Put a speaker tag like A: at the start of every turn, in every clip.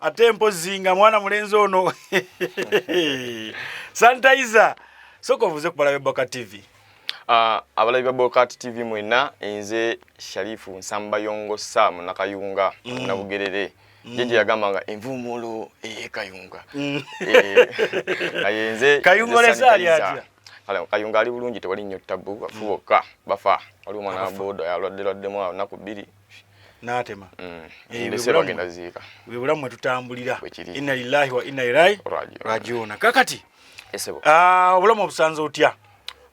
A: ate mpozi nga mwana mulenzi ono sanitizer soka ovuze ku balabe boka tv uh, ah, abalabi
B: ba bokat tv mwena nze sharifu nsamba yongo sa munakayunga mm. nabugerere mm. jeje yagamba nga envumulo eyekayunga mm. eh, naye nze kayunga olesali
A: atya kale kayunga ali
B: bulungi tewali nnyo ttabu bafu bokka bafa waliwo omwana wa booda yalwadde lwaddemu olunaku bbiri natema
A: mm.
B: eh, bwebulamu mwetutambulira
A: inna lillahi wa inna ilaihi rajiuna kakati ah,
B: obulamu obusanze
A: otya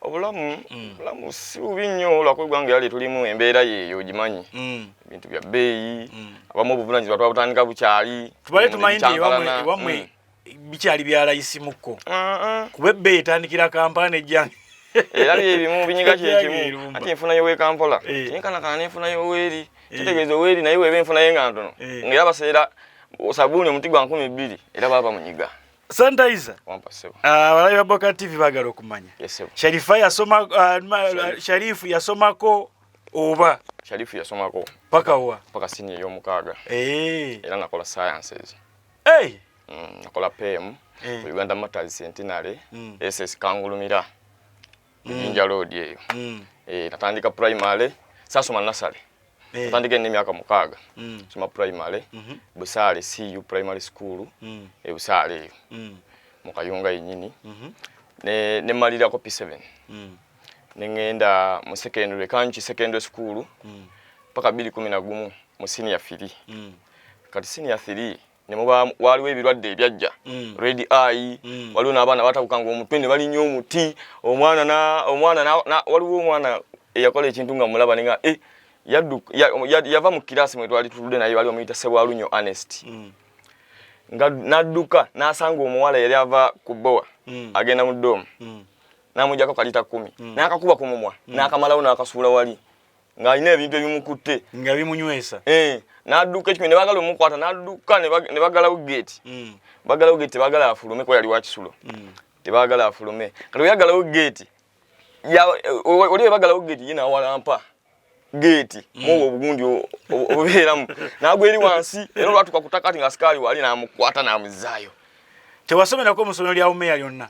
A: obulamu
B: mm. obulamu si bubi nnyo lwakuba eggwanga era lyetulimu embeera yeeyo ogimanyi mm. ebintu bya bbeeyi abamu obuvunanyizibwa twabutandika bukyali tubale tumanyi nti
A: ewamwe bikyali byalayisimukko kuba ebbeeyi etandikira kampala nejjange era byebimu
B: binyiga kyekimu ati enfuna yowekampola eh. tinkanakana nenfuna yoweeri eh. kitegeeza oweeri naye weeba enfuna ye nga ntono eh. ngaera baseera sabuuni omuti gwa nkumi bbiri era baba munyiga sanitizer
A: ah, abalabi
B: ba boka
A: tv bagala okumanya sharifa yasoma ah, ah, sharifu yasomako oba sharifu yasomako
B: paka wa paka
A: sini eyomukaaga
B: era nakola sciences hey! mm, nakola pm hey. Eh. uganda motors centenary mm. ss kangulumira jinja mm. road eyo mm. eh, natandika primary sasoma nasale eh. natandika ene myaka mukaaga mm. soma primary mm -hmm. busaale cu primary school mm. e busaale eyo mm. mukayunga yenyini mm -hmm. ne nemalirako p7 mm. nengenda mu secondary kanki secondary school mm. paka bili kumi na gumu mu senior fili mm. kati senior 3 ne muba waliwo ebirwadde ebyajja mm. red eye mm. waliwo n'abaana batabuka nga omutwe ne balinya omuti omwana na omwana na, na waliwo omwana eyakola ekintu nga mulaba ninga e eh, yaddu ya, ya, yava mu kirasi mwe twali tulude naye waliwo muyita sebwalunyo honest mm. nga nadduka n'asanga omuwala yali ava ku bowa mm. agenda mu doomu mm. namujako kalita kumi mm. nakakuba ku mumwa mm. nakamalawo nakasuula wali ng'alina ebintu ebimukutte nga bimunywesa
A: eh, n'adduka ekimi
B: ne bagala omukwata n'adduka ne bagalawo geeti mm. bagalawo geeti tebagala afulume kuba yali wakisulo mm. tebagala afulume kati bwe yagalawo geeti oli bwe bagalawo geeti ye n'awalampa geeti mm. muwo obugundi obubeeramu n'agwa eri wansi era olwatuka ku takati nga sikaali wali n'amukwata n'amuzaayo tewasomerako
A: mu ssomero lya umeya lyonna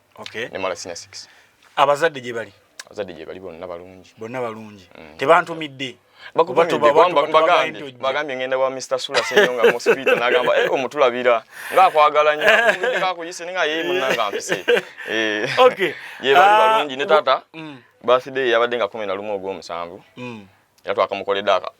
B: okay. ne mala senior 6 abazadde gye bali
A: abazadde gye bali bonna balungi
B: bonna balungi mm. tebantumidde
A: bagambye
B: ngenda wa Mr. Sula Senyo nga mosquito nagamba eh omutulabira nga kwagala nyo nga kuyise nga yeye munanga mpise eh okay ye bali ah, balungi ne tata mm. birthday yabadde nga 11 ogwo musanvu mm. yatwakamukoledde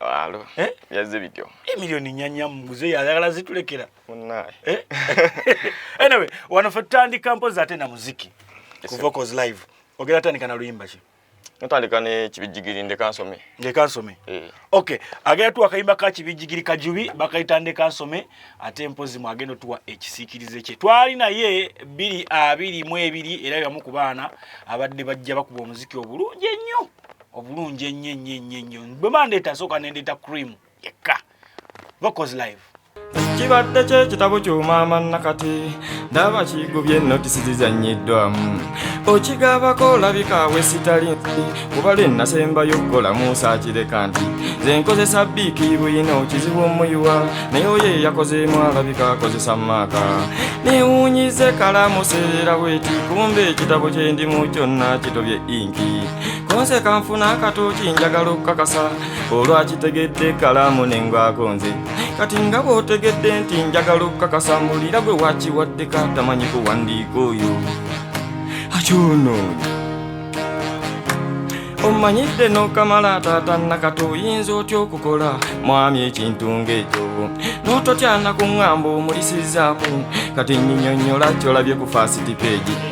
A: Alo. Eh? Yazze
B: bityo. E milioni nyanya
A: muze yagala zitulekera. Munaye.
B: Eh?
A: anyway, wano fe tutandika mpozi ate na muziki. Ku vocals live. Ogera tandika na luyimba ki? Natandika ne
B: kibijigiri ndeka nsome. Ndeka nsome. Eh.
A: Okay. Agera tu akayimba ka kibijigiri kajubi bakayita ndeka nsome ate mpozi mu agendo tuwa ekisikirize kye. Twali na ye bili abili mwe bili era yamu kubana abadde bajja bakuba omuziki obulungi ennyo. obulungi ennyo ennyo ennyo ennyo bwe bandeeta nsooka ne ndeeta cream yekka vocals live kibadde
C: kyekitabo ky'omaama nakati ndaba kigubye notisi zizannyiddwamu okigabako olabika awe sitali nsi kuba lwe nasembayo okukola musa akireka nti ze nkozesa biiki buyina okizibu omuyiwa naye oyo eyakozeemu alabika akozesa maaka newunyize kalamu seera bweti kumba ekitabo kyendimu kyonna kitobye inki kunse kanfuna akatooki njagala okukakasa olwakitegedde kalaamu nengwako nze kati nga bw'otegedde nti njagala okukakasa mbulira gwe wakiwaddeka tamanyi kuwandiika oyo akyonoonyi omanyidde n'okamala taata nakati oyinza otya okukola mwami ekintu ng'ekyo n'ototyana ku ŋŋamba omulisizaako kati nyinyonnyola kyolabye ku faasiti peegi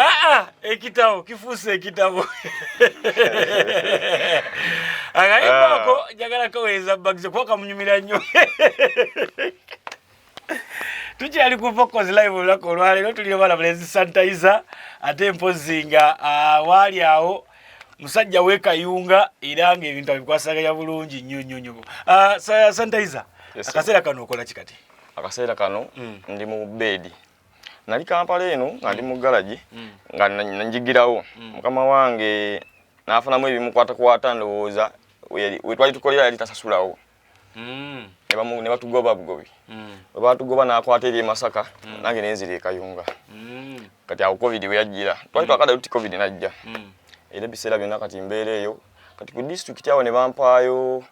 A: Ah, ah, ekitabo kifuuse ekitabo akayimba ako ah. njagala kaweereza bagize kuba kamunyumira nnyo tukyali ku fokozi live olunaku olwaleero tuli obalabula ezisanitayiza ate mpozi nga waali awo musajja wekayunga era nga ebintu abikwasaganya bulungi nnyo nnyo nnyo sanitayiza akaseera kano okola ki kati akaseera kano
B: mm. ndi mu beedi nali kampala eno nga ndi mu galagi mm. nga njigirawo mm. mukama wange nafunamu ebimukwatakwata ndowooza wetwali tukolera yali tasasulawo mm. ne batugoba bugobi we batugoba nakwata eri emasaka nange nenzira ekayunga kati awo covid weyajjira twali twakada tuti covid najja era ebiseera byonna kati mbeera eyo kati ku disitulikiti awo ne bampaayo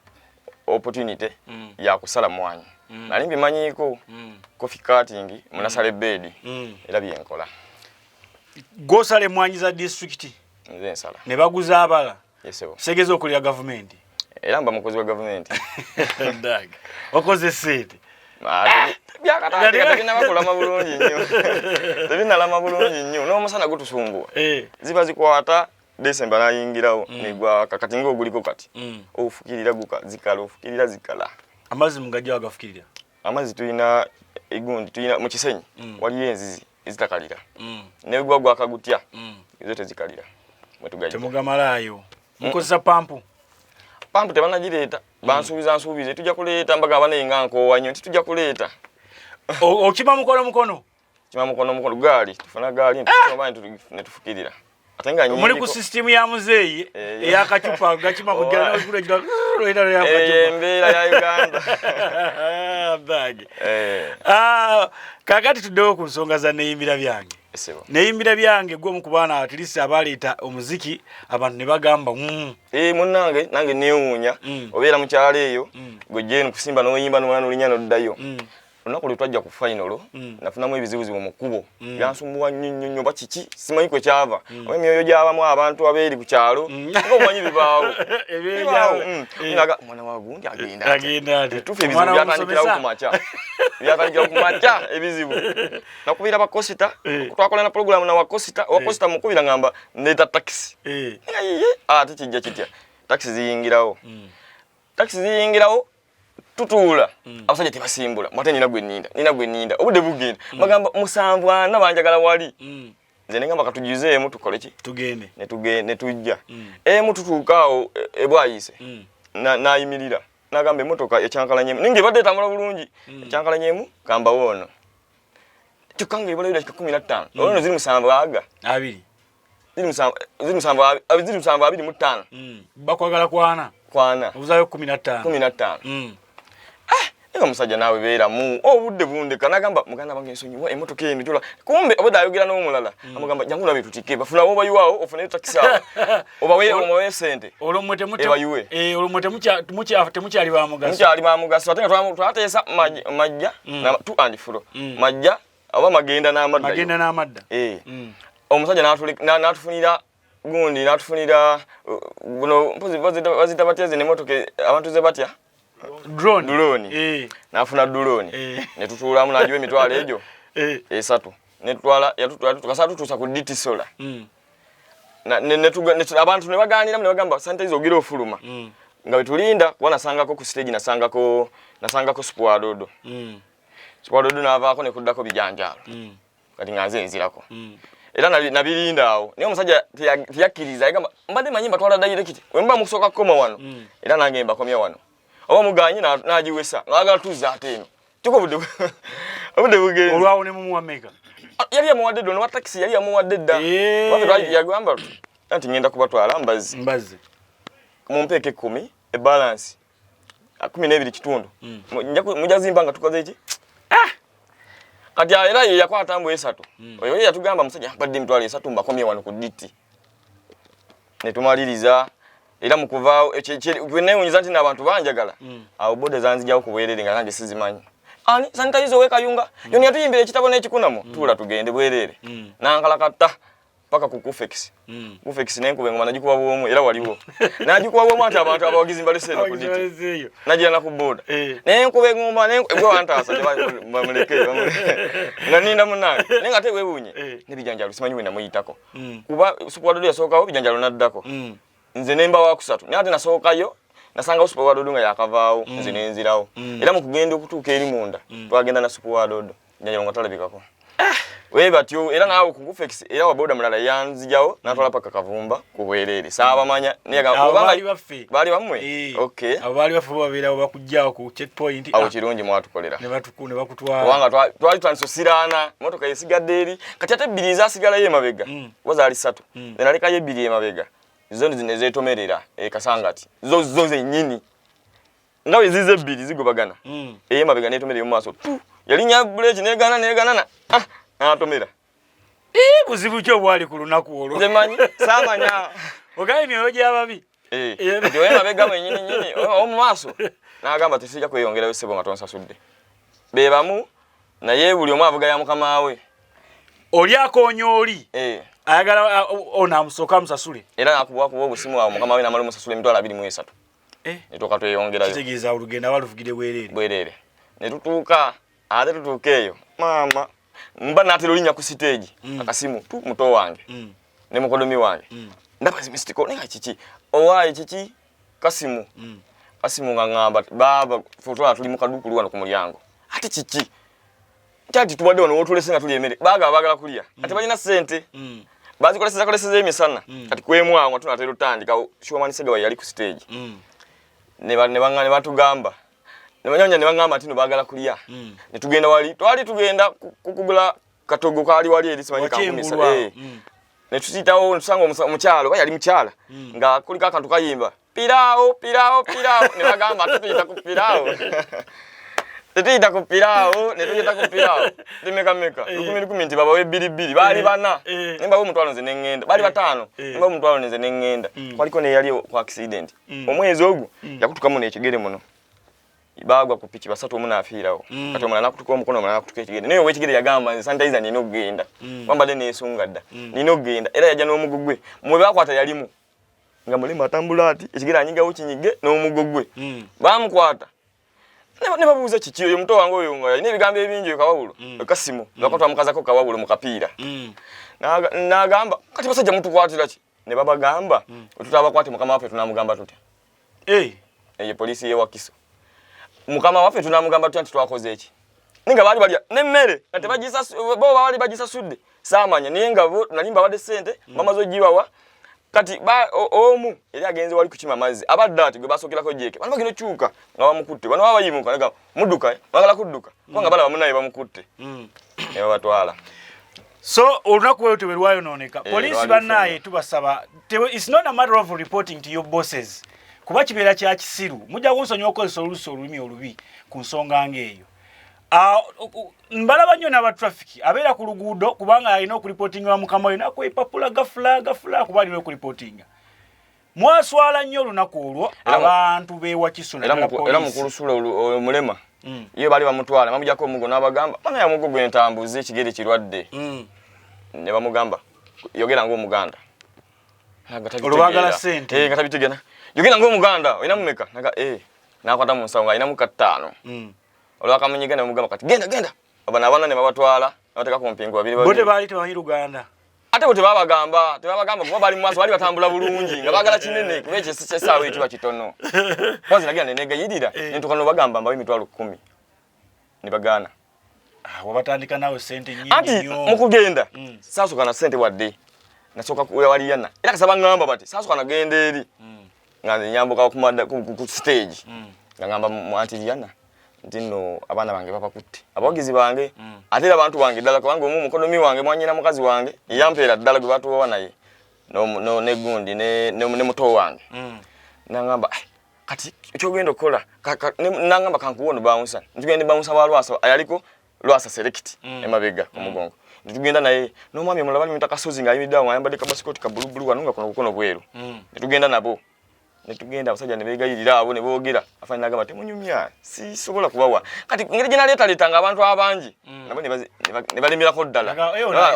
B: opportunity mm. ya kusala mwanyi mm. nali mbimanyiiko mm. coffee cutting munasale mm. bedi mm. era byenkola
A: gwosala emwanyi za district nze nsala ne
B: baguza abala
A: yesebo segeza okulira
B: gavumenti
A: era mba mukozi
B: wa gavumenti dag
A: okoze sente ah, byakataategenabakulama
B: bulungi nnyo tebinalama bulungi nnyo n'omusana gutusumbuwa eh. ziba zikwata December nayingirawo mm. negwaka kati nga oguliko kati mm. ofukirira guka zikala ofukirira zikala amazzi mugajja
A: wagafukirira amazzi tulina
B: egundi tulina mu kisenyi mm. waliyo enzizi ezitakalira mm. negwa gwaka gutya mm. ezo tezikalira mwetugajja temugamalaayo
A: mm. mukozesa pampu pampu
B: tebanagireeta mm. bansuubiza nsuubize tujja kuleeta mbaga abanaye nga nkoowa nnyo nti tujja kuleeta okima
A: mukono mukono kima mukono mukono
B: gaali tufuna gaali ah! ne tufukirira muli ku sisitimu ya
A: muzeeyi eh, eh. eyakacupa gakima kugyaembeera
B: ya uganda
A: eh. ah, kakati tuddewo ku nsonga za neyimbira byange
B: neyimbira byange
A: gwe omu ku baana atlist abaleeta omuziki abantu ne bagamba mm. munange
B: nange newuunya mm. obeera mukyalo eyo mm. gwe jeni kusimba noyimba nomwana olinya noddayo olunaku lwe twajja ku fayinolo mm. nafunamu ebizibuzibu mu kkubo mm. byansumbuwa nnyo nnyo nnyo oba kiki simanyi kwe kyava mm. oba emyoyo gyabamu abantu abeeri ku kyalo nga omanyi bibaawo omwana wa gundi agendaetufu ebizibu byatandikirawo ku makya byatandikirawo ku makya ebizibu nakubira bakosita eh. twakola na pulogulamu na wakosita eh. wakosita mukubira ngamba ndeeta takisi eh. ate kijja kitya takisi ziyingirawo takisi ziyingirawo tutuula mm. abasajja tebasimbula mwate nina gwe ninda nina gwe ninda obudde bugenda mm. bagamba musanvu ana banjagala wali mm. nze ne ngamba katugizeemu tukole ki tugende ne tugende ne
A: tujja
B: mm. emu tutuuka awo e, ebwayise mm. nayimirira na nagamba emotoka ekyankalanyemu ninga ebadde etambula bulungi mm. ekyankalanyemu gamba woono kyokka nga ebala dakika kumi na ttaano mm. olwono ziri musanvu aga abiri ziri musanvu abiri mu ttaano mm. bakwagala
A: kwana kwana obuzayo kumi nattaano kumi nattaano mm.
B: eh, era omusajja naawe beeramu obudde oh, bundeka nagamba muganda wange nsonyiwa emotoka eno jola kumbe obadde ayogera n'omulala mm. amugamba jangu nabe tutike bafuna obayiwaawo ofuneyo takisaawo obaweomuwe sente ebayuwe
A: eh, olumwe temukyali bamugaso mukyali bamugaso
B: ate nga twateesa majja tu and fro majja oba magenda n'amadda magenda n'amadda eh mm. omusajja n'atufunira gundi n'atufunira uh, buno mpozi bazita batya zino emotoka abantu ze batya drone drone eh nafuna drone eh. ne tutuulamu najiwe mitwalo ejo eh esatu ne twala yatutwala tukasatu tusa ku DT solar mm na ne, ne, tuga, ne abantu ne baganira ne bagamba sante izo gira ofuluma mm nga betulinda wanasangako ku stage nasangako nasangako spuadodo mm Sikwalodu n'avaako ne kuddako bijanjaalo mm. kati nga nze nzirako mm. era nabirinda awo naye omusajja teyakkiriza yagamba mbadde manyi mbatwala dayirekiti we muba mukusooka kukoma wano mm. era nange mbakomya wano oba muganye n'agiwesa ng'agala tuzza ate eno kyoko obudde obudde bugenze olwawo ne mumuwa meka
A: ah, yali yamuwadde
B: dda onowa takisi yali yamuwadde dda eh. yagamba nti ngenda kubatwala mbazzi mumpeeka ekkumi ebalansi ah, kumi n'ebiri kitundu mm. mujja zimba nga tukoze ki ah! kati ah, era ye yakwata mbu esatu mm. oyo ye yatugamba musajja mbadde emitwalo esatu mbakomye wano ku diti ne tumaliriza era mu kuvaawo newunyiza nti n'abantu banjagala mm. awo boda zanzijawo ku bwerere nga nange sizimanyi ani sanitayiza owekayunga yoni yatuyimbira ekitabo n'ekikunamu tuula tugende bwerere nankalakatta paka ku kufex mm. kufex ne nkuba ngoma najikuba bwomu era waliwo najikuba bwomu ati abantu abawagizi mbali sene ku diti najira na kuboda eh. ne nkuba ngoma ne gwe wanta asa ne bamuleke nga ninda munange ne ngate webunye eh. ne bijanja lusimanyi wenda muyitako mm. kuba sukwado ya soka ho bijanja lunaddako mm. nze nemba wa kusatu ne ate nasoka yo nasanga sukwado dunga yakavaawo mm. nze nenzirawo mm. era mukugenda okutuka eri munda mm. twagenda na sukwado Nyanya nga talabikako. Ah! Wewe batyo era nawe kugufex era wa boda mulala yanzijawo natwala paka kavumba ku bwerere. Sawa manya niye ga oba bali baffe. Bali bamwe. Eh, okay. Abo bali baffe babira
A: bakujjawo ku checkpoint. Awo ah. kirungi mwatukolera.
B: Ne batuku ne bakutwala.
A: Wanga twa twali
B: twansosirana motoka yesigadde eri kati ate bili za sigala ye mabega. Mm. Waza ali satu. Mm. Ne nalika ye bili ye mabega. Zoni zinezetomerera e eh, kasangati. Zo zo zenyini. nga bwe zize ebbiri zigobagana mm. eyemabega netomera eyomu maaso tu yalinya buleeki negana neganana ah, natomera
A: buzibu ki obwali ku lunaku olwo manyi samanya
B: ogaye myoyo
A: gyababi eh, nti
B: oyemabega mwenyini nyini omu maaso nagamba tisija kweyongerayo sebo nga tonsasudde be bamu naye buli omu avuga ya mukama we oli
A: akonya oli eh. ayagala ona amusooka amusasule era nakubakuba obusimu
B: awo mukama we namala omusasula emitwalo abiri mu esatu eh. ne tuuka tweyongerayo kitegeeza olugendo aba
A: luvugire bwereere bwereere
B: ne tutuuka ate tutuuka eyo maama mba natera olinya ku siteegi mm. akasimu tu muto wange mm. ne mukodomi wange mm. ndaba zimistiko naye nga kiki owaayi kiki kasimu mm. kasimu nga ŋamba baaba fotwala tuli mu kaduukulu wano ku mulyango ate kiki Tati tubadde wano wotulese nga tuli emere. Baga bagala kulia. Mm. Ati banyina sente. Mm. Bazi koleseza koleseza emisana. Mm. Ati kwemu awo tuna tero tandi ka shuwa mani sega yali ku stage. Mm. Ne ba ne bangane batu gamba. Ne banyanya ne bangama ati no bagala kulia. Mm. Ne tugenda wali. Twali tugenda kukugula katogo kali wali eri simanyi kampuni sa. Eh. Mm. Ne tusitawo nsango omuchalo. Yali mchala. Mm. Nga kulika kantu kayimba. piraawo piraawo piraawo ne bagamba tetuyita ku piraawo tetuyita ku piraawo ne tuyita ku piraawo temekameka eh. lukumi lukumi nti babawe ebbiri bbiri baali eh. bana eh. ne mbawa omutwalo nze ne ŋŋenda baali bataano ne mbawa omutwalo nze ne ŋŋenda mm. kwaliko neyali ku accident mm. omwezi ogwo mm. yakutukamu nekigere muno bagwa ku piki basatu omu nafiirawo mm. kati omulala nakutuka omukono omulala nakutuka ekigere naye owekigere yagamba nze sanitizer nina okugenda mm. wambadde nesunga dda mm. nina okugenda era yajja n'omugugwe mwe bakwata yalimu nga mulema atambula ati ekigere anyigawo kinyige n'omugo gwe hmm. bamukwata ne babuuza kiki oyo muto wange oyo nga alina ebigambo ebingi oyo kawawulo hmm. kasimu hmm. lwako twamukazako kawawulo mu kapiira n'agamba kati basajja mutukwatira ki ne babagamba tutabakwate mukama waffe tunamugamba tutya Hey. Eye police ye wakiso. Mukama wafe tunamugamba tu anti twakoze eki. Ninga bali bali ne mmere ate bajisa bo bali bajisa sudde. Samanya ninga bo nalimba bade sente mm. mama zo jiwa wa. Kati ba omu eri agenze wali kuchima mazi. Abadde ati gwe basokera ko jeke. Bano bagino chuka nga bamukutte. Bano baba yimuka. muduka eh? bagala kuduka kubanga balaba munaye bamukutte mm. nebabatwala so
A: olunaku weyo tewerwayononeka eh, polisi banaye tubasaba its not a matter of reporting to your bosses kuba kibeera kya kisiru mujja kunsonyiwa okukozesa olusi olulimi olubi ku nsonga ngaeyo ah, mbalaba nnyo n'aba traffic abeera ku luguudo kubanga alina okulipotinga wa mukama we nakwepapula gafula gafula kuba alina okulipotinga mwaswala nnyo olunaku olwo abantu bewakiso era mukulu
B: sula omulema mm. ye bali bamutwala bamujako omugo nabagamba bana ya mugo gwentambuza ekigere kirwadde mm. ne bamugamba yogera ngaomuganda
A: olubagala sente eh, nga tabitegena
B: yogera ngaomuganda olina mumeka naga eh, nakwata mu nsawo nga alinamu kattaano mm. olwakamunyiga ne bamugamba kati genda genda Abana abana ne babatwala nabateka ku mpingu babiri babiri. Bote bali tebamanyi Luganda.
A: Ate bote
B: babagamba, tebabagamba kuba bali mwaso bali batambula bulungi nga bagala kinene kuba ekyo sikye sawa ekiba kitono. Kwanza nagenda ne negayirira eh. ne tukano bagamba mbawe mitwalo 10. Ne bagana. Ah, wabatandika
A: nawe sente nyingi nyo. Ati mukugenda.
B: Mm. Sasa kana sente wadde. Nasoka kuya wali yana. Ila kasaba ngamba bati. Sasa kana gende eri. Mm. nga nze nyambuka ku stage mm. nga ngamba mwanti Rihanna nti nno abaana bange babakutte abawagizi bange mm. ate era abantu bange ddala kubanga omu mukodomi wange mwanyina mukazi wange eyampeera ddala gwe batuwawa naye negundi ne muto wange mm. nangamba kati kyogenda okukola nangamba kankuwa ono bawunsa ntugende bawunsa balwasa ayaliko lwasa select mm. emabega mm. omugongo mm. tugenda naye nomwami omulaba ni mutaka sozi nga ayimidde awo ayambadde kabasikoti ka bulu bulu wano nga kuno kukono bweru mm. tugenda nabo netugenda abasajja ne beegayirira abo ne boogera afaanana agamba temunyumya sisobola kubawa kati ngeri gye naleetaleetanga abantu abangi mm. nabo ne balemerako ddala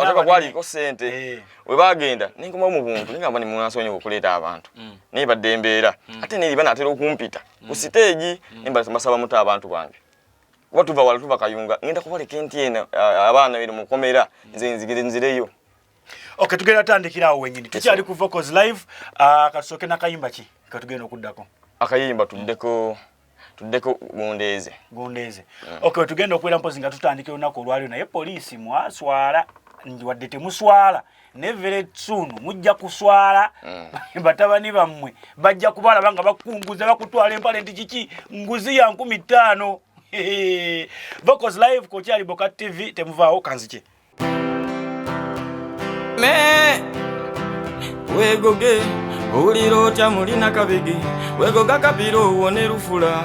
B: otoka kwaliko ssente eh. we baagenda nenkomawo mu buntu nigamba ne munansonyi okuleeta abantu mm. naye badde embeera mm. ate neri banaatera okumpita ku siteegi ne mbasaba muto abantu bange kuba tuva wala tuva kayunga ngenda kubaleka enti ena uh, abaana bino mukomera nze nzigire nzireyo okay
A: tugenda tandikira awo wenyini tukyali ku vocals live uh, katusoke nakayimba ki katugenda okuddako akayimba tuddeko
B: tuddeko gundeeze gundeeze mm.
A: okay tugenda okubeera mpozi nga tutandika olunaku olwaliro naye poliisi mwaswala wadde temuswala ne very soon mujja kuswala mm. batabani bammwe bajja kubalaba nga bakunguza bakutwala empale nti kiki nguzi ya nkumi ttaano vocals live kokyali boka tv temuvaawo kanzikye me
C: wegoge owulira otya mulina kabege wegoga kabira owone lufula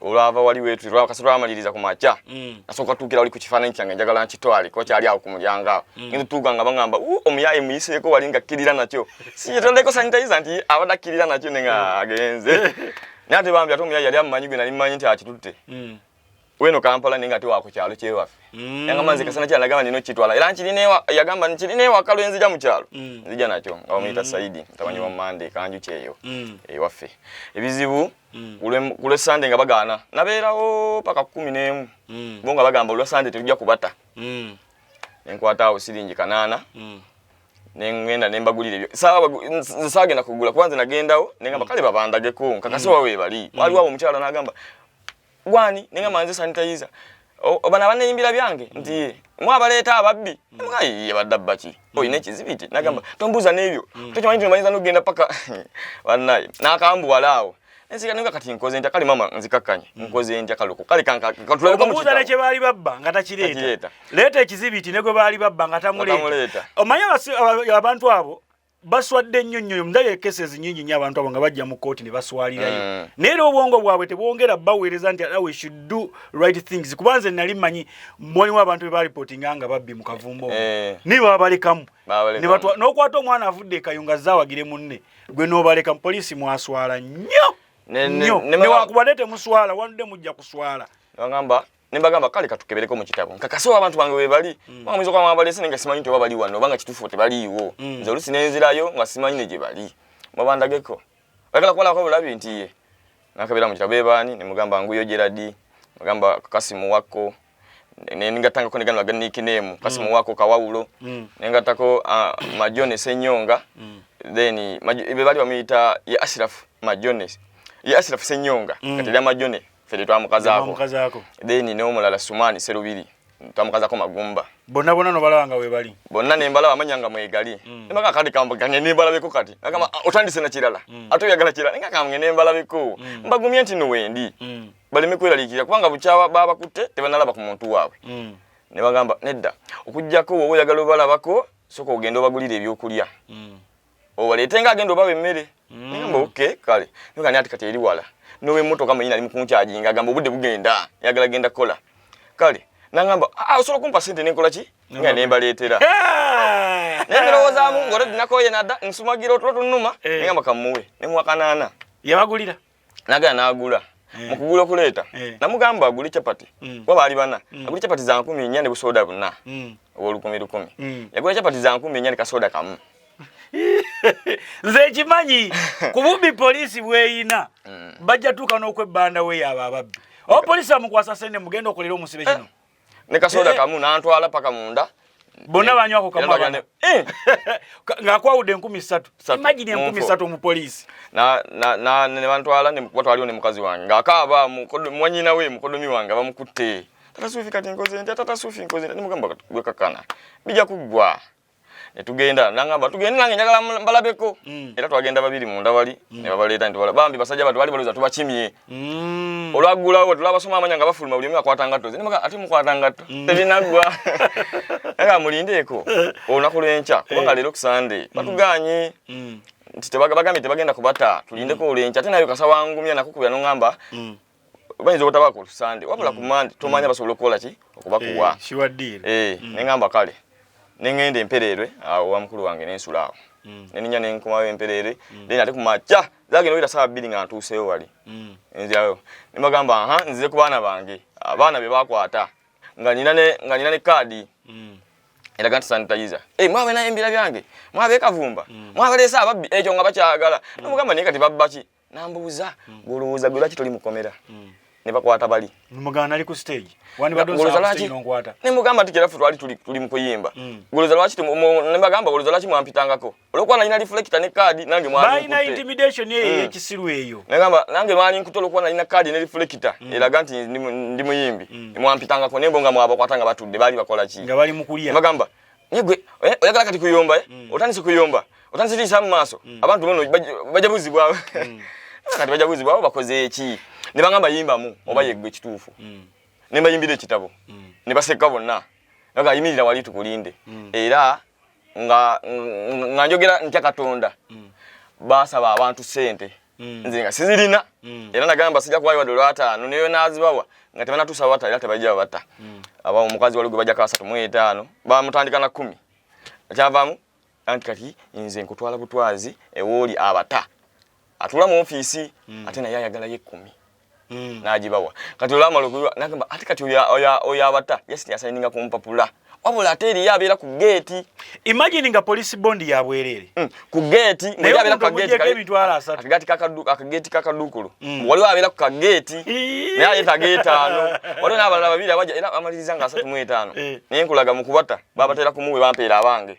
B: olwava wali wetu lwa kasatu amaliriza ku macha mm. asoka tukira wali ku kifananyi kyange njagala nkitwali ko kyali awo ku mulyango awo mm. ndu tuga nga bangamba u omuyaye muyise ko wali nga kirira nakyo si yetole ko sanitizer nti abada kirira nakyo ninga mm. agenze nate bambi atomu yali amanyi gwe nali manyi nti akitutte mm. weno kampala ninga ti wako kyalo kyewafe mm. yanga manzi kasana kyala gamba nino kitwala era nkiri ne yagamba nkiri ne wakalo enzi ja mu kyalo mm. nzija nakyo nga omuyita mm. saidi mtabanyi wa mm. mande kanju kyeyo mm. ewafe ebizibu mm. kulwe sande nga bagaana nabeerawo paka kumi n'emu mm. bo nga bagamba olwa sande tetujja kubata mm. nenkwata awo siringi kanaana mm. nengenda nembagulira ebyo saagenda kugula kuba nze nagendawo nengamba mm. kale babandageko nkakasi mm. wawe bali mm. waliwo awo omukyala nagamba gwani ninga manze sanitizer obana baneyimbira byange nti ye mwabaleeta ababbi nga ye badabba ki oyina ekizibiti nagamba tombuuza n'ebyo tokimanyi nti omanyiza nogenda paka banaye nakambuwala awo ensika ninga kati nkoze ntya kale mama nzikakkanye mm. nkoze ntya kaluku kale kankatulaomubuuza nekye baali babba nga
A: takireeta leeta ekizibiti ne gwe baali babba nga tamuleeta omanye abantu abo baswadde nnyo nnyo ndabye cases nyingi nnyo abantu abo nga bajja mu kkooti ne baswalirayo mm. naye era obwongo bwabwe tebwongera baweereza nti we should do right things kuba nze nali manyi mwalimu abantu be balipotinga nga babbi mu kavumba omu eh. naye babalekamu n'okwata omwana avudde ekayo nga zawagire munne gwe n'obaleka mu poliisi mwaswala nnyo nnyo newakubadde temuswala wanudde mujja kuswala ne
B: bagamba kale katukebereko mu kitabo nkakase wa abantu bange webali mm. banga mwizo kwa mabali sene ngasimanyi nti babali wano banga kitufu te bali iwo mm. nze olusi nenzirayo ngasimanyi ne jebali mabanda geko bagala kwala kwa bulabi nti ye nakabira mu kitabo ebani ne mugamba nguyo jeradi mugamba kasimu wako ne ningatanga ko negano agani kinemu kasimu mm. wako kawawulo mm. ningatako uh, ah, majone senyonga mm. then ibe bali bamita ya ashraf majone ya ashraf senyonga mm. katira majone fede twamukazaako then n'omulala sumani serubiri twamukazako magumba bonna bonna nobalaba
A: nga webali bonna nembalaba amanya
B: nga mwegali mm. nemaka kati kamba gange nembalabeko kati agamba mm. Ah, otandise nakirala mm. ate oyagala kirala nenga kamge nembalabeko mm. mbagumye nti nowendi mm. baleme kweralikira kubanga bukyawa babakutte tebanalaba ku muntu waabwe mm. ne bagamba nedda okugyako woba oyagala obalabako soka ogenda obagulira ebyokulya mm. owaleete nga agenda obawa emmere mm. namba oke kale nogani ati kati eri wala nowemotoka mwenyini ali mukunkyajinga agamba obudde bugenda yagala genda kukola kale nangamba ah, ah, osobola okumpa sente nenkola ki nga nembaleetera naye ndowoozamu ngaoledi nakoye nada nsumagira otulo tunuma eh. nengamba kamuwe nemuwakanaana yabagulira
A: nagala nagula
B: eh. mukugula okuleeta eh. namugamba agule chapati mm. kuba baali bana mm. agule chapati za nkumi nnya ne busooda buna mm. owolukumi lukumi yagula chapati za nkumi nnya ne kasooda kamu nze
A: ekimanyi kubumbi poliisi bweyina bajja tuuka n'okwebbanda weyo abo ababbi oba poliisi amukwasa sente mugenda okolera omusibe kino eh. ne kasoda eh,
B: kamu nantwala paka munda bonna eh, banywako
A: kamu abana eh. ng'akwawudde enkumi ssatu imagine enkumi ssatu omupoliisi ne
B: bantwala kuba twaliwo ne mukazi wange ng'akaaba mwanyina we mukodomi wange bamukutte tata sufi kati nkoze ntya tata sufi nkoze ntya nimugamba gwekakana bija kuggwa ne tugenda nangamba tugende nange njagala mbalabeko mm. era twagenda babiri munda wali mm. ne babaleeta nti bambi basajja batu bali balowooza tubakimye mm. olwaggulawo tulabasoma amanya nga bafuluma buli omu akwata ngatto zinimaka ate mukwata ngatto mm. tebinaggwa naye mulindeeko olunaku lw'enkya kubanga eh. leero kusande mm. batugaanye mm. nti tebagambye tebagenda kubata tulindeko mm. olw'enkya ate nayo kasawangumya nakukubira nongamba mm. bayinza obutaba ku sande wabula ku mande mm. tomanya mm. basobola okukola ki okubakuwa eh, eh, mm.
A: neŋamba kale
B: neŋenda empereerwe awo wa mukulu wange nensula awo neninya nenkomayo empereere then ate kumakya zagenda oyita saawa bbiri nga ntuuseyo wali nzirayo nebagamba aha nzize ku baana bange abaana be bakwata nga nina ne kaadi eraga nti sanitayiza eh, mwabe naye embira byange mwabe kavumba mwabaleese ababbi ekyo nga bakyagala nomugamba naye kati babbaki nambuuza hmm. gwolowooza gwe lwaki toli mukomera hmm. ne bakwata bali mugamba nali ku stage
A: ne mugamba nti kirafu twali
B: tuli mukuyimba hmm. goloza lwaki ne bagamba goloza lwaki mwampitangako olwokuba nalina reflecta ne kaadi nange mwaliagamba
A: nange mwali
B: nkuta olwokuba nalina kaadi ne reflecta eraga nti ndi muyimbi mwampitangako nembo nga mwabakwata nga batudde baali bakola ki bagamba
A: Yegwe
B: eh, oyagala kati kuyomba eh? Mm. Otandise kuyomba. Otandise lisa mu maaso. Mm. Abantu bono bajabuzibwa. Mm. Kati bajabuzibwa bakoze eki? Ne bangamba yimba mu oba mm. yegwe kituufu. Mm. Ne bayimbira ekitabo. Mm. Ne baseka bonna. Naga yimirira wali tukulinde. Mm. Era nga nga njogera ntya Katonda. Mm. Basaba abantu sente. mm. nze nga sizirina mm. era nagamba sijja kuwayo wadde olwataano naye nazibawa nga tebanatuusa bata era tebajja bata mm. aba omukazi wali gwe bajja kasatu mu etaano bamutandika na kkumi ekyavaamu anti kati nze nkutwala butwazi ewooli abata atula mu ofiisi mm. ate naye ayagalayo ekkumi mm. nagibawa kati olamala okuyiwa nagamba ate kati oyo abata yes yasayininga ku mpapula wabula ate eriyo abeera ku geeti imagine nga
A: polisi bondi yabwereere mm. ku
B: geeti akageeti kakaduukulu mm. waliwo abeera ku kageeti naye ayeta geetaano waliwo n'abalala babiri abaja era amaliriza nga asatu mu etaano eh. naye nkulaga mu kubata babatera kumuwe bampeera abange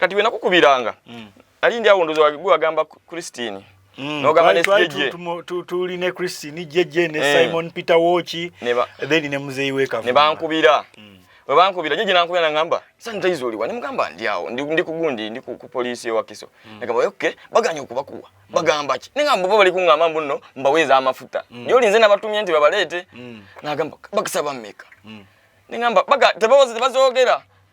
B: kati wena kukubiranga mm. ali ndi awunduzo wagigu agamba Christine mm. no gamba ne jeje tu tu li ne
A: Christine jeje ne eh. Simon Peter Wochi neba then ne muzeyi weka ne bankubira
B: mm. we bankubira jeje nankubira na ngamba sasa nitaizo liwa ne mugamba ndi awo ndi, ndi kugundi ndi ku, ku police wa kiso mm. ne gamba okay baganya okubakuwa mm. bagamba ki ne ngamba bali kunga mambo no mbaweza amafuta mm. yo linze nabatumye nti babalete mm. na gamba bakisaba meka mm. ne ngamba baga tebawoze tebazogera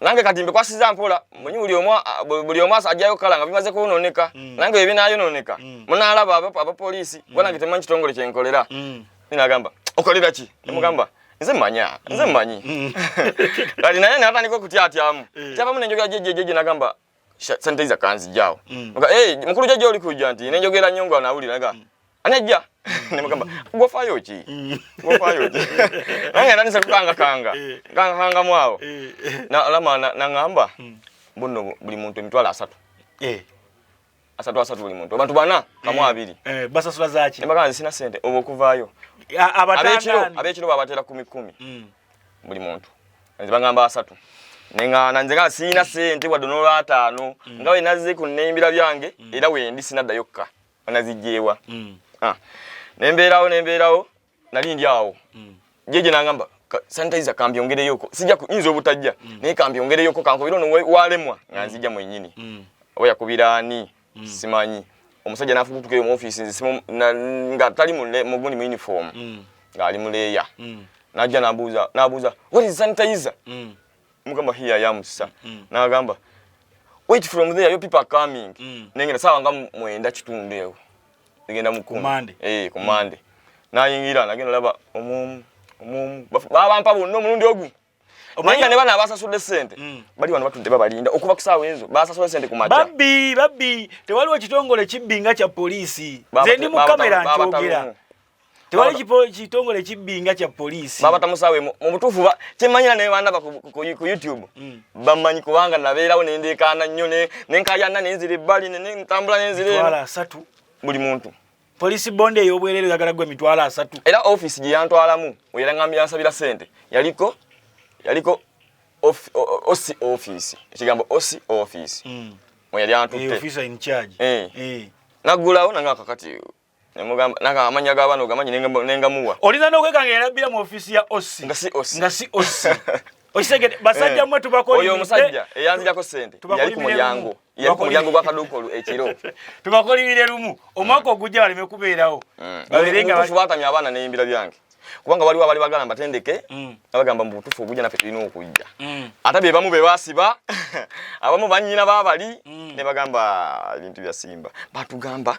B: nange kati mbikwasiza mpola mwenye buli omu buli omu ajjayo kala nga bimaze kunoneka mm. nange bye binayononeka mm. munalaba aba aba polisi mm. bwana kitemanyi kitongole kye nkolera mm. ninagamba okolera ki mm. nimugamba nze manya nze mm. manyi mm. kati naye natandika okutyatyamu eh. kyabamu nenjogera jejejeje nagamba sente za kanzi jao mm. nga eh hey, mukuru jaje oli kuja nti ne njogera nyongo anawulira nga mm. anajja mm. ne mugamba go fayo ki mm. go fayo ki anga nani se kanga kanga eh. kanga kanga mwao eh. na alama na, na ngamba mm. bunno buli muntu emitwala asatu eh asatu asatu buli muntu abantu bana kamu eh, abiri eh basasula zaki embaka
A: sina sente obo
B: kuvayo abekiro abekiro babatera 10 10 mm. buli muntu nze bangamba asatu nenga nanze ka sina sente wadde nolwa atano mm. nga we nazi ku nembira byange mm. era wendi sina dayokka anazijewa mm. ah nemberawo nemberawo nali ndi awo mm. jeje nangamba sanitizer kambyongereyoko sija kuyinza obutajja mm. naye kambyongereyoko kankubira ono walemwa nga mm. nzija mwenyini mm. oba yakubira ani mm. simanyi omusajja nafubutukeyo mu office nze simu na, nga tali mu mugundi mu uniform mm. nga ali muleya mm. najja nabuuza nabuuza what is sanitizer mm. mugamba hiya yamusa mm. nagamba wait from there your people are coming mm. nengenda sawa nga mwenda kitundu ewo ngenda mukumande eh kumande mm. nayingira nagenda laba omum omum baba mpa bunno mulundi ogu Omanya ne bana basasude sente. Mm. Bali wano batudde babalinda okuba kusawa enzo. Basasude sente ku macha. Babbi, babbi,
A: tewaliwo kitongole kibbinga kya police. Zendi mu kamera njogera. tewali kipo kitongole kibbinga kya police baba tamusawe mu
B: butufu ba kimanyira ne banda ku, ku, ku youtube mm. bamanyi kubanga nabeerawo ne ndekana nnyo ne nenkaya nna nenzire bali ne ntambula nenzire wala asatu buli
A: muntu
B: police bonde
A: eyo obwerere yagala gwe mitwala asatu era office gye
B: yantwalamu wera ngambi yansabira sente yaliko yaliko of, o, o, osi office ekigambo osi office mm. mwe yali antutte officer in charge eh,
A: eh. nagulawo
B: nanga kakati amanya gabano gamanyi nengamuwa olina nokwekanga
A: yalabbira mu ofisi ya osi nga si osi nga si osi okitegede eh. basajja mwe tubakolimidde oyo omusajja eyanzijako
B: sente yali ku mulyango yali ku mulyango gwakaduuka olu ekiro tubakolimire lumu
A: omwaka ogujja baleme kubeerawo mm. baberengabatamya
B: abaana neyimbira byange kubanga waliwo abali bagala mbatendeke mm. abagamba mu butuufu ogujja naffe tulina okujja mm. ate be bamu be basiba abamu bannyina babali ne bagamba ebintu bya simba batugamba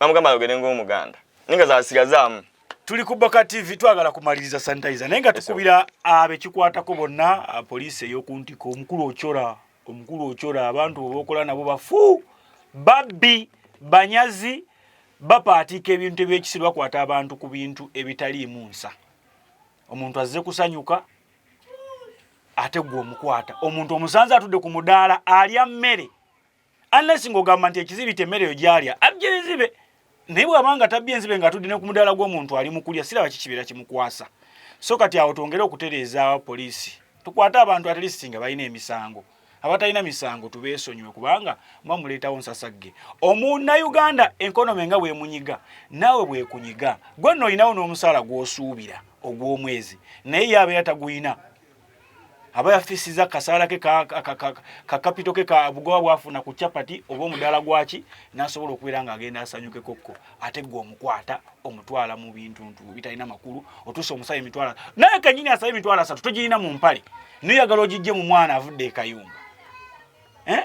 B: bamugamba ayogere ng'omuganda naye nga zasigazaamu tuli ku boka
A: tv twagala kumaliriza sanitizer naye nga tukubira abekikwatako bonna poliisi eyokuntika omukulu okyora omukulu okyora abantu bebokola nabo bafu babbi banyazi bapaatiika ebintu ebyekisiru bakwata abantu ku bintu ebitaliimu nsa omuntu azze kusanyuka ate gwe omukwata omuntu omusanze atudde ku mudaala alya mmere unless ng'ogamba nti ekizibiti emmere yo gyalya abja enzibe naye bw'aba nga tabya enzibe nga atudde ne ku mudaala gw'omuntu ali mu kulya siraba kikibeera kimukwasa so kati awo twongere okutereeza poliisi tukwate abantu at least nga balina emisango abatalina misango tubeesonyiwe kubanga muba muleetawo nsasagge omunnayuganda enkonome nga bwemunyiga naawe bwekunyiga gwe nno olinawo n'omusaala gw'osuubira ogw'omwezi naye ye abeera tagulina aba yafisiza kasaala ke ka kapito ke ka bugoba bwafuna ku chapati oba omudaala gwaki nasobola okubeera nga agenda asanyuke kokko ate gwe omukwata omutwala mu bintu ntu bitalina makulu otuusa omusaba emitwala naye kanyini asaba emitwala asatu togirina mu mpale noyagala ogijje mu mwana avudde ekayumba eh?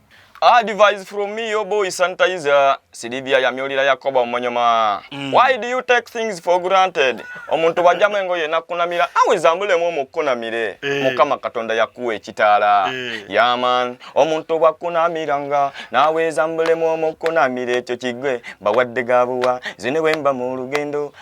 A: Advice
B: from me, your boy sanitizer. Silivia yamyolira Yakoba omonyoma. Mm. Why do you take things for granted? Omuntu bajjamu engoye nakunamira awe zambulemu omukunamire. Hey. Eh. Mukama Katonda yakuwa ekitaala. Hey. Eh. Yeah man, omuntu bakunamiranga nawe zambulemu omukunamire ekyo kigwe bawadde gabuwa zine wemba mu lugendo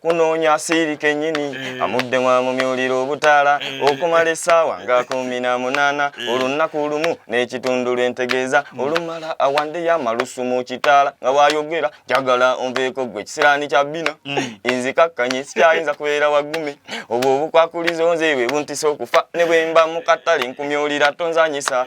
B: kunoonya asiiri kennyini eh. amudde mwamumyulira obutaala eh. okumala essaawa nga kumi na munaana eh. olunnaku lumu n'ekitundu lw'entegeeza hmm. olumala awandeyo amalusu mu kitaala nga bwayogera njagala onveeko gwe ekisiraani kya bbina hmm. inzikakkanye sikyayinza kubeera waggume obwo obukwakulizo nze bwe buntisa okufa ne bwe mba mu katale nkumyulira tonzanyisa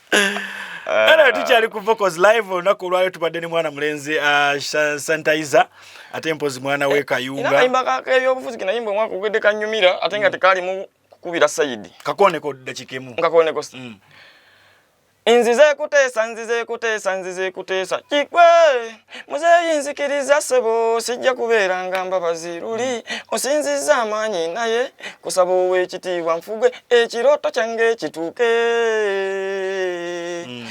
A: era ah. tukyali ku vocals live olunaku olwaleo tubadde ne mwana mulenzi ah, sanitizer ate mpozi mwana we eh, kayungaayimbaebyobufuzi
B: kenayimba omwaka ogwedde kanyumira ate nga mm. tekaalimu kukubira sayidi kakoneko dakika
A: emu kakoneko mm.
B: nzize kuteesa nzize kuteesa nzize kuteesa kikwe muzeeyi nzikiriza ssebo sijja kubeera nga mbabazi luli osinzizza amaanyi naye kusaba ow'ekitiibwa nfugwe ekirooto kyange ekituuke hmm.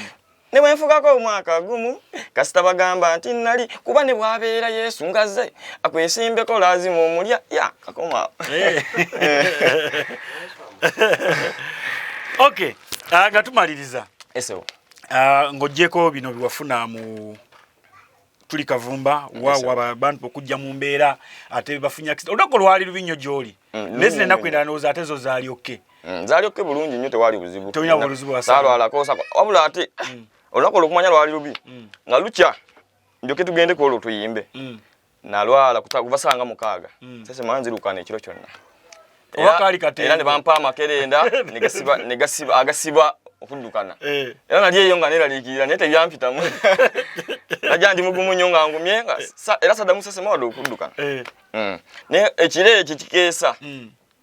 B: ne bwe nfugako omwaka gumu kasita bagamba nti nnali kuba ne bwabeera yesu ngazze akwesimbeko laazima omulya ya kakoma eh.
A: ok ah, nga tumaliriza esewo eh,
B: Ah, ng'ogyeko
A: bino biwafuna mu tuli kavumba wawabantu okujja mu mbeera ate bafunya olunaku olwali lubi nnyo gy'oli mm, naye zina ennaku endala ndowooza ate zo zaalyokke mm, zaalyokke bulungi
B: nnyo tewali buzibu
A: wabula
B: ate mm. olunaku olwokumanya lwali lubi nga lukya njoke tugendeko olwo tuyimbe nalwala kuva saa nga mukaaga mm. sese mala nzirukana ekiro kyonna era ne bampa amakerenda agasiba okuddukana eh. era nali eyo nga neraliikirira naye tebyampitamu najja ndi mugumu nnyo nga ngumye eh. era saddamu sese mawade okuddukana eh. mm. naye ekiro ekyo kikeesa mm.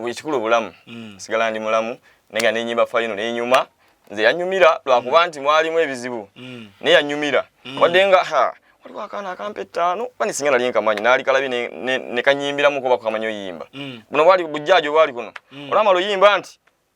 B: buli kikulu bulamu mm. sigala ndi mulamu naye nga nenyimba fayino nenyuma nze yanyumira lwakuba mm. nti mwalimu ebizibu mm. naye yanyumira mm. wadde nga ha waliwo akaana akampa ettaano oba nesinga nali nkamanyi naali kalabi nekanyimbiramu ne, ne kuba kukamanyi oyimba mm. buno bwali bujjaaji obwali kuno mm. olamala oyimba nti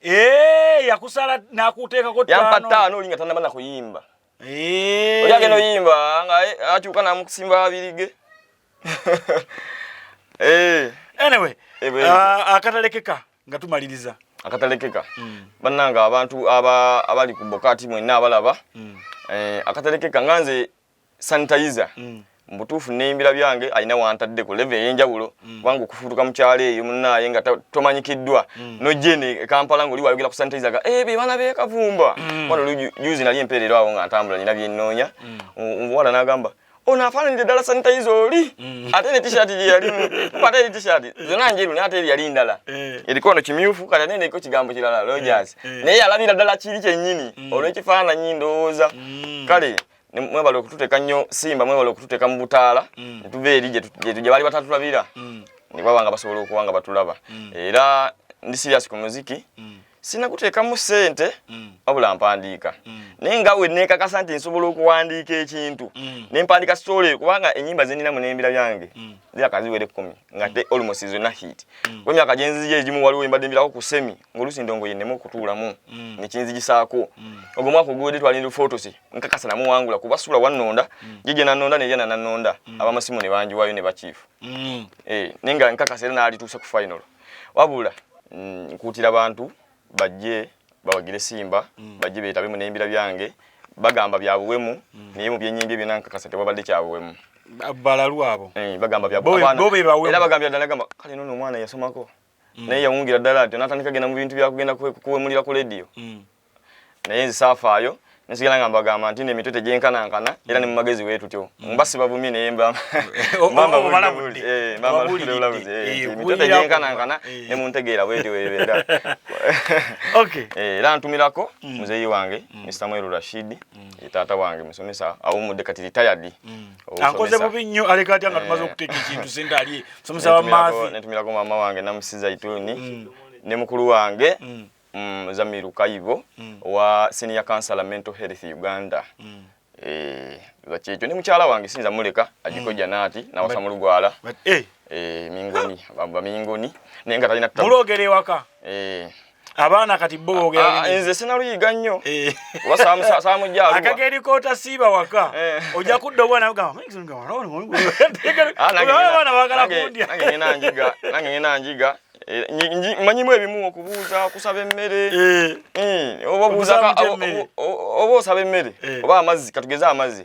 B: Eh,
A: yakusala nakuteekako ttaano. Yampa ttaano olinga tanaba na
B: kuyimba. Eh. Oya geno yimba nga eh, akyuka na mukusimba abirige.
A: Eh. Anyway, uh, akatalekeka nga tumaliriza. Akatalekeka.
B: Mm. Bananga abantu aba abali ku bokati mwenna abalaba. Mm. Eh, akatalekeka nganze sanitizer mm. mbutuufu neyimbira byange alina wantadde ku leve eyenjawulo mm. kubanga okufutuka mukyalo eyo munaaye nga tomanyikiddwa mm. nojene ekampala ngaoli wayogera ku sanitizer ga ebyo eh, baana bekavumba mm. wano juzi nali empeerero awo nga ntambula nina byenoonya mm. omuwala nagamba ono afaananidde ddala sanitayiza oli mm. ate ne tishati gyeyalimu ate eri tishati mm. zona njeru naye ate eri yali ndala eh. eriko ono kimyufu kati ate neko kigambo kirala eh, rogers eh. naye yalabira ddala kiri kyennyini mm. olw'ekifaananyi ndowooza kale mwebale okututeka nnyo simba mwebale okututeka mu butaala mm. netuva eri gye baali batatulabira mm. ne baba nga basobola okuba nga batulaba mm. era ndi sirias ku muziki sina kuteekamu ssente wabula mpandiika naye nga we neekakasa nti nsobola okuwandiika ekintu ne mpandiika sitooleyo kubanga ennyimba ze ninamu n'embira byange ziraka ziwera ekkumi nga te olmosi zonna hit kuba emyaka gyenziyo egimu waliwo embadde embirako ku semi ngolusi ndongo yenemu okutuulamu mm. nekinzigisaako mm. ogwo mwaka oguwedde twalinda fotosi nkakasa namuwangula kuba sula wannonda mm. jije nanonda neyana nanonda mm. abamasimu ne banjiwayo ne bakiifu mm. eh, naye nga nkakasa era naalituuse ku final wabula mm, nkuutira bantu bajje bawagire simba mm. bajje beetabe mu neyimbira byange bagamba byabuwemu mm. naye mu byenyimbye byona nkakasa tewabadde kyabuwemu balalu
A: abo eh, bagamba byabuwemu
B: era bagambira ddala gamba kale nono omwana yasomako mm. naye yawungira ddala nti onatandika genda mu bintu byakugenda kuwemulira ku lediyo mm. naye nzisaafaayo nsigala nga mbagamba nti nemitwe tegyenkanankana era ne mumagezi wee tutyo mm. mba sibavumye naye mbambabulabuzi emitwe tegyenkanankana ne muntegeera bwetyo webeera era ntumirako muzeeyi wange mr mweru rashidi taata wange musomesa awumudde kati ritayadi ankoze bubi
A: nnyo aleka atya nga tumaze eh. okuteeka ekintu sente ali musomesa wa maafi netumirako maama wange
B: namusi zaituni mm. ne mukulu wange mm. mm, zamiru kayibo owa senior councilor mental health uganda eh, bakyekyo ne mukyala wange sinza muleka ajiko janaati nawasa mu lugwala eh. mingoni bamingoni naye nga talina muloogere ewaka
A: abaana kati bo bogera ah, nze sinaluyiga
B: nnyo eh. samujaluwa akageri kota siiba
A: waka eh. ojja kudda obwana ogamba ah, abaana bagala
B: kundya nange ngena njiga Eh, manyimu ebimu okubuuza kusaba emmere eh. hmm, oba osaba emmere eh. oba amazzi katugeze amazzi